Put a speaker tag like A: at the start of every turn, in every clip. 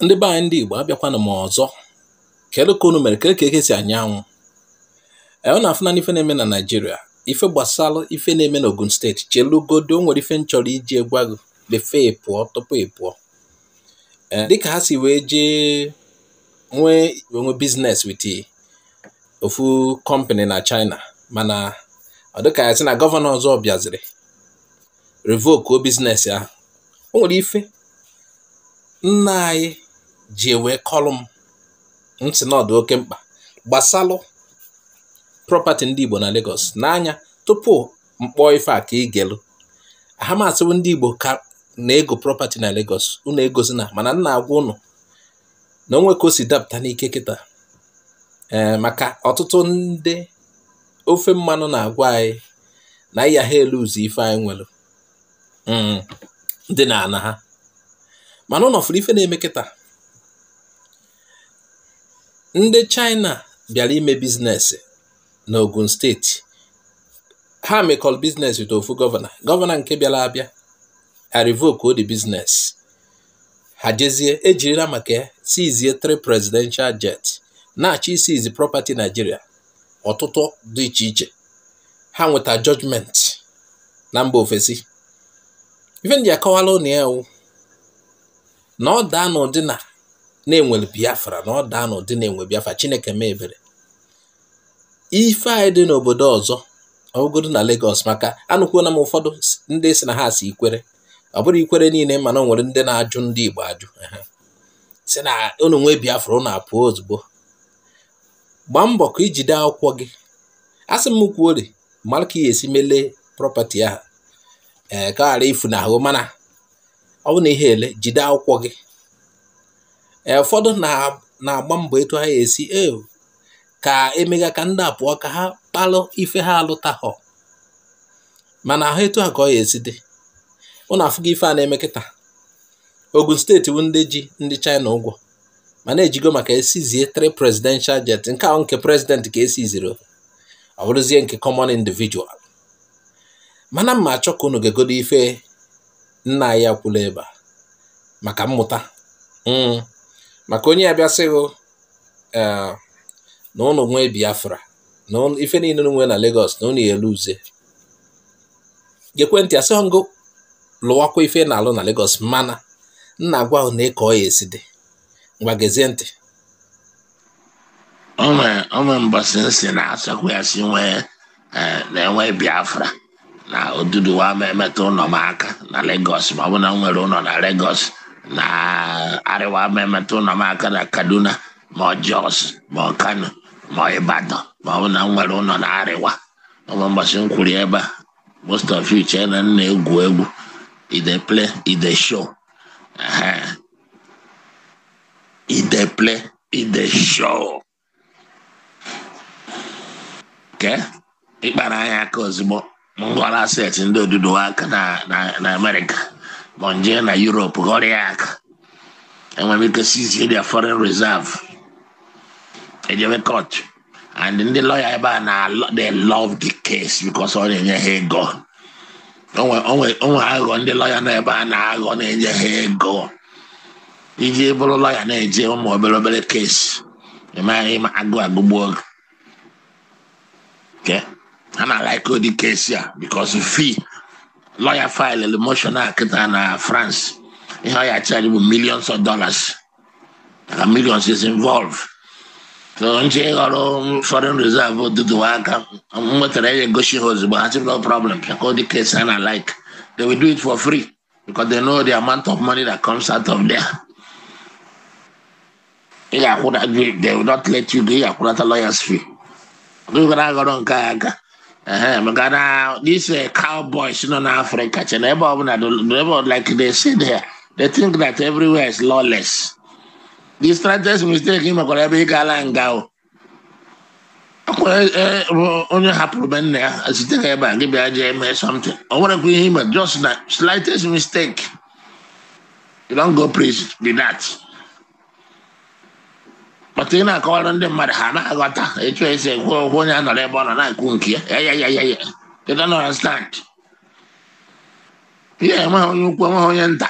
A: ndị be anyị ndị Igbo abịakwana m ọzọ kedu ka unu mere kedu ka eke si anya anwụ e, unu afụna ife na-eme na Naịjirịa ife gbasara ife na-eme na Ogun steeti chelugodu o nwere ife m chọrọ iji gwa gị before ị pụọ tupu ị pụọ e, dịka ha si wee jee nwee nwe biznes wit ofu kọmpani na China mana ọ dịka a sị na gọvanọ ọzọ bịaziri revoke o biznes ahụ o nwere ife nna anyị ji wee kọlụ m sị na ọ dụ oke mkpa gbasalụ prọpati ndị Igbo na Lagos n'anya tupu m kpọọ ife a ka ị gelu aha m asị hụ ndị Igbo ka na-ego prọpati na Lagos unu egozina mana m na-agwa ụnụ na o nwee ka o si dapụta n'ike kịta ee maka ọtụtụ ndị ofe mmanụ na-agwa anyị na anyị ya-elose ife anyị nwere mm, dị n'ana ha mana unu fụrụ ife na-eme kịta ndị China bịara ime biznes n'Ogun steeti ha mekọrọ biznes with ofu gọvanọ gọvanọ nke bịara abịa a revoke o the biznes ha jezie e jirila maka ya sizie three presidential jet na-achọ isizi property Nigeria ọtụtụ dị iche iche ha nweta judgment na mba ofesi ife m ji akọwalụ ụnụ ya wụ na ọ daa n'ụdị na e nwere Biafra na ọ daa n'ụdị na e nwe Biafra Chineke mee ebere ife anyị dị n'obodo ọzọ ọ bụgodu na Lagos maka anụkwuola m ụfọdụ ndị sị na ha si Ikwere ọ bụrọ Ikwere niile mana o nwere ndị na-ajụ ndị Igbo ajụ sị na unu nwee Biafra unu apụọ ozugbo gbaa mbọ ka i jide akwụkwọ gị asị m kwuori mara ka ị ya-esi mee lee prọpati ahụ ee eh, ka ọ ghara ifuna hụ mana ọ bụ na i he-ele jide akwụkwọ gị ee eh, ụfọdụ na-agba mbọ etu ha esi e ka emega ka ndị a pụọ ka ha kpalụ ife ha alụtahọ mana ahụ etu a ka ọ ya-esi dị ụnụ afụgo ife a na-eme kịta Ogun steeti bụ ndị ji ndị China ụgwọ mana e jigo maka ya sizie three presidential jet nke a wụ nke president ka e siziri ọ bụrụzie nke common individual mana m na-achọ ka unu geegodu ife nna anyị a kwulu ebe a maka mmụta hmm. maka onye ya-abịa sị hụ eh, na ụnụ nwee Biafra na ife niile unu nwe na Lagos na unu ya-elose geekwa ntị asị m gụ lụwakwa ife ị na-alụ na Lagos mana m na-agwa hụ nee ka ọ ya-esi dị ngwa gezie
B: ntị o nwe mbọsị m sị na asakwa ya si nwee eh, na e nwee Biafra na Oduduwa ama emetụ ụlọ m aka na Lagos ma ọ bụ na m nwere ụlọ na Lagos na Arewa ama emetụ ụlọ m aka na Kaduna ma ọ Jos ma ọ Kano ma ọ Ibadan ma ọ bụ na m nwere ụlọ na Arewa o nwe mbọsị m kwuru ebe a most of you chee na m na-egwu egwu e dey play e dey show e dey play e dey show kee ịkpara anyị aka ozugbo m ghọrọ asset ndị Oduduwa aka na America ma m jee na Europe ghọrọ ya aka e nwere ike seizie their foreign reserve ejebe court and ndị lawyer ebe a na they love the case because ọ na-enye ha ego o nwe aghụghọ ndị lawyer nọ ebe a na-aghọ na-enye ha ego iji bụrụ lawyer na-eje ụmụ obere obere case ịmaghị ma agụụ agụgbuo gị ha na-alike ụdị case a because if lawyer file motion a kịta na France ihe ọ ya-achaji bụ millions of dollars na millions is involved so m jee ghọrọ foreign reserve Oduduwa aka m nwetara ya egosi ha ozugbo ha sị no problem because ụdị case ha na-alike they will do it for free because they know the amount of money that comes out of there. They will not let you do your lawyer's fee. We're gonna go on Kayaga. maka na this uh, cowboys nọ n'Africa che na ebe ọbụla ebe like they say there they think that everywhere is lawless the slightest mistake ị mekwara ebe ị gaala nga o akwara e, e, onye hapụrụ be nna ya site ka ebe a gị bịa jee mee something ọ nwerekwa ihe i me just the slightest mistake you don go prison be that but ị na-akọwara ndị mmadụ ha na-aghọta etu esi ekwu okwu onye anọrọ ebe ọ nọ na-ekwu nke ya ya ya ya ya they don't understand ihe enweghị onye ukwu enweghị onye nta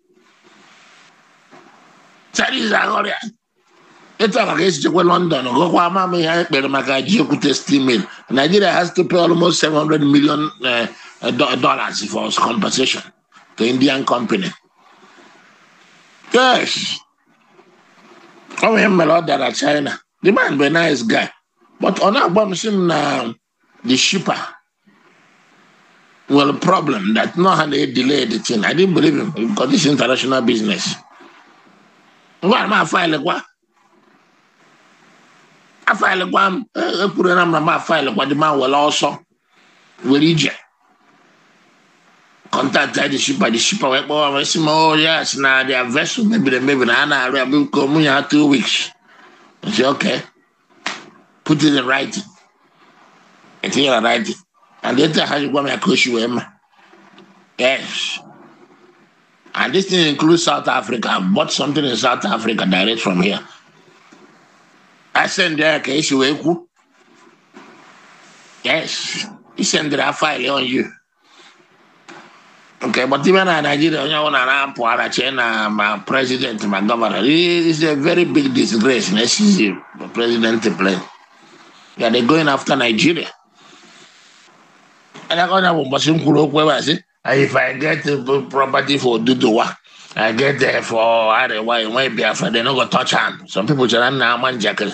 B: Chinese aghọrọ ya etu a maka esi jekwa London gụkwa ama m ihe e kpere maka Ajaokuta steel mill Nigeria has to pay almost 700 million eh, dollars for compensation to Indian company yes ọ nwere ihe m mere order na China the man bụ a nice guy but ọ na-akpọ m sị m na the shipper nwere problem that no ha na-edelay the thing I didn't believe him because this is international business ngwa m afilekwa afilekwa m ekwuru na m na m afilekwa the man were ọsọ were ije contact the shipper the shipper wee kpọwa m sị m oh yes na their vessel mebiri emebi na ha na-arụ ya biko m nye ya two weeks I say okay put it in writing etinye na writing and etu ha ji gwa m ya ka oshi wee ma yes and this thing includes South Africa I bought something in South Africa direct from here I send ya ka esi wee kwu yes he send their file on you Okay, but even in Nigeria, onye ọbụla na-apụ ara chee na ma president ma gọvanọ is a very big disgrace na esizi president plane ya they going after Nigeria and o nwebu mbọchị m kwuru okwu ebe a sị if I get the property for Oduduwa I get there for Arewa enwe Biafra they no go touch am some people chere na ama njakịrị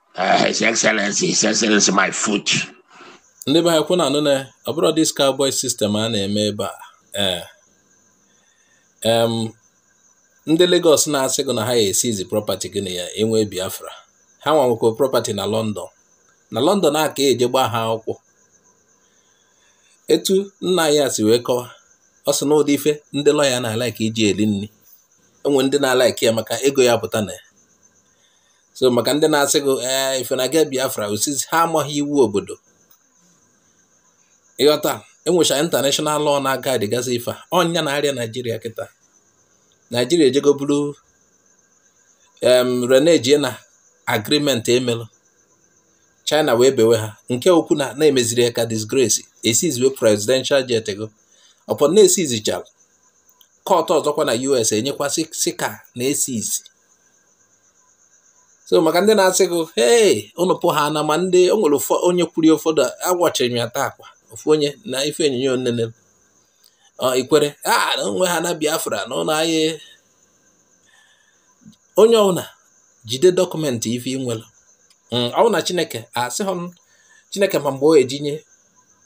B: Uh, His Excellency, His Excellency, my foot. ndị be
A: anyị kwa ụnụ anụna ọ bụrọ this cowboy system a na-eme ebe a ee eh. ndị Lagos na-asị gị na ha ya-esizi property gị na ya enwe Biafra ha nwa nwekwa property na London na London a ka eje gbaa ha akwụkwọ etu nna ahụ si wee kọwa ọ sị na ụdị ife ndị lọya na-alaiki iji eli nni o nwere ndị na-alaiki ya maka ego ya-apụta na ya so maka ndị na-asị gị ee eh, if ị na-aga Biafra osizi ha amaghị iwu obodo ị ghọta enwecha international law na-agaịdịgasị ife a ọ nya na-arịa Nigeria kịta Nigeria ejego bụrụ renejie na agreement e melu China wee bewe ha nke okwu na na-emeziri ya ka disgrace esiziwe presidential jet go upon na esizichara kọtụ ọzọkwa na US enyekwa sị ka a na-esizi so maka ndị na-asị gị hei ụnụ pụhana ma ndị o nwere onye kwuru ụfọdụ agwachiri m ya taa akwa ofu onye na ife onyinyo nnene Ikwerre a ah, na enwehana Biafra na ụlọ anyị onye ọbụla jide dọkụmentị ife i nwelu mm, ọ na Chineke asị hụ Chineke ma mgbe o ejinye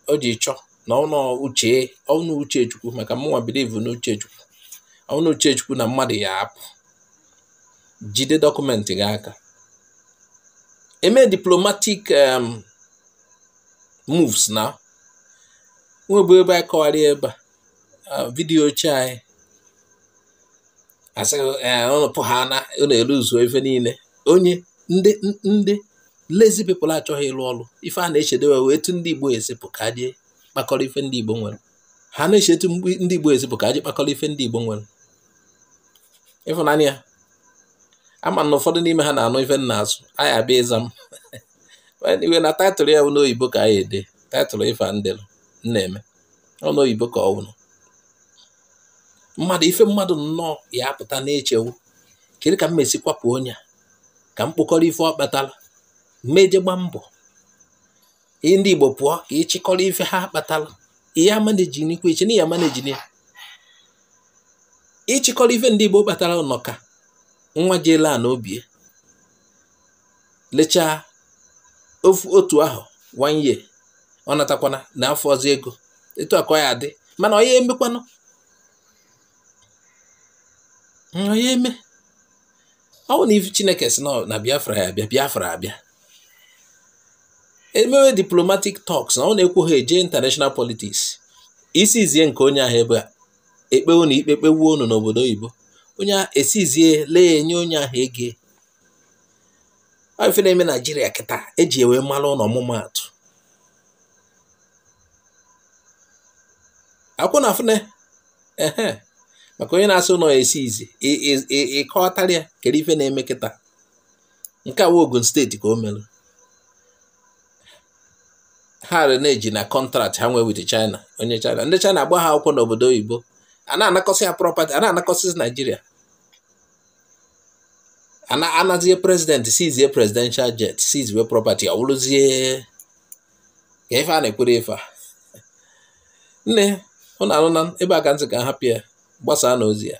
A: o ji chọọ na ọ n'uche ọ n'uche Chukwu maka mụnwa bilivu na uche Chukwu ọ n'uche Chukwu na mmadụ ya-apụ jide dọkụmentị gị aka eme diplomatic um, moves o nwebu ebe anyị kọwara ebe a vidiyo ochie anyị asị ụnụ pụhana ụnụ eluzuo ife niile onye ndị ndị lazy people achọghị ịlụ ọlụ ife ha na-echedị wụ etu ndị Igbo esi pụ ka ha je kpakọrọ ife ndị Igbo nwere ha na-eche etu ndị Igbo esi pụ ka ha je kpakọrọ ife ndị Igbo nwere ị fụna ya ama m na ụfọdụ n'ime ha na-anụ ife m na-asụ anyị abịa ịza m iwe na taịtụl ya wụ n'oyibo ka anyị ede taịtụl ife m delu m na-eme ọ n'oyibo ka ọ wụrụ mmadụ ife mmadụ nnọọ ya apụta na-eche wụ kedu ka m esi kwapụ onye a ka m kpokọrọ ife ọ kpatara mmeje gba mbọ ihe ndị Igbo pụọ ka ịchịkọrọ ife ha kpatara ị ya-amaneji n'ikwu iche na ị ya-amaneji ya ịchịkọrọ ife ndị Igbo kpatara nọ ka nwa gị ele a na obie lechaa ofu otu ahụ one year ọ natakwana na afọ ọzọ ego etu a ka ọ ya-adị mana ọ ya-emekwanụ ọ ya-eme ọ bụ na ife Chineke sị na Biafra ya-abịa Biafra abịa e mewe diplomatic talks na ọ na-ekwu ha eje international politics esizie nke onye ahụ ebe a ekpe unu ikpe e kpegbuo unu n'obodo oyibo onye ahụ esizie lee nye onye ahụ ego ife na-eme Naijiria kịta e ji ewe mara unu ọmụmaatụ akwụna afụne maka onye na-asị na ọ ya-esizi ịkọtara ya kere ife na-eme kịta nke a wụ Ogun steeti ka o mere ha renege na kọntraktị ha nwee with China onye China ndị China agba ha akwụkwọ n'obodo oyibo a na-anakọsị ya prọpati a na-anakọsị Naijiria anazie prezidenti sizie presidential jet sizie property ọ wụrụzie ka ife a na-ekwere ife niine unu na-anụ na ebe a ka m sị ka a bịa gbasaa na ozi a